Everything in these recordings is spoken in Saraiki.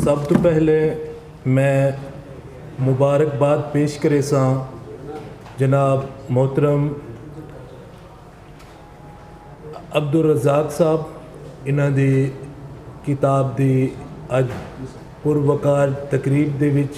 سب توں پہلے میں مبارکباد پیش کریساں جناب محترم عبدالرزاق صاحب انہاں دی کتاب دی اج پروقار تقریب دے وچ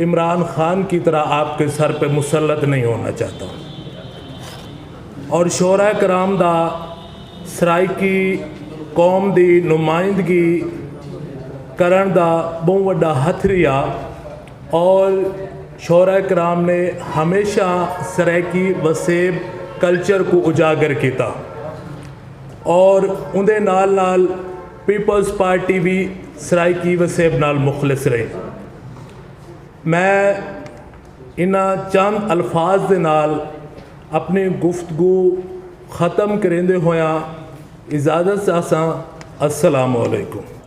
عمران خان کی طرح آپ کے سر پہ مسلط نہیں ہونا چاہتا ہوں اور شعرا کرام دا سرائیکی قوم دی نمائندگی کرن دا بہت وڈا ہتھری آ اور شعرا کرام نے ہمیشہ سرائیکی وسیب کلچر کو اجاگر کیتا اور اندے نال نال پیپلز پارٹی وی سرائیکی وسیب نال مخلص رہی۔ میں انہاں چند الفاظ دے نال اپݨی گفتگو ختم کریندے ہوئیاں اجازت چاہساں۔ السلام علیکم۔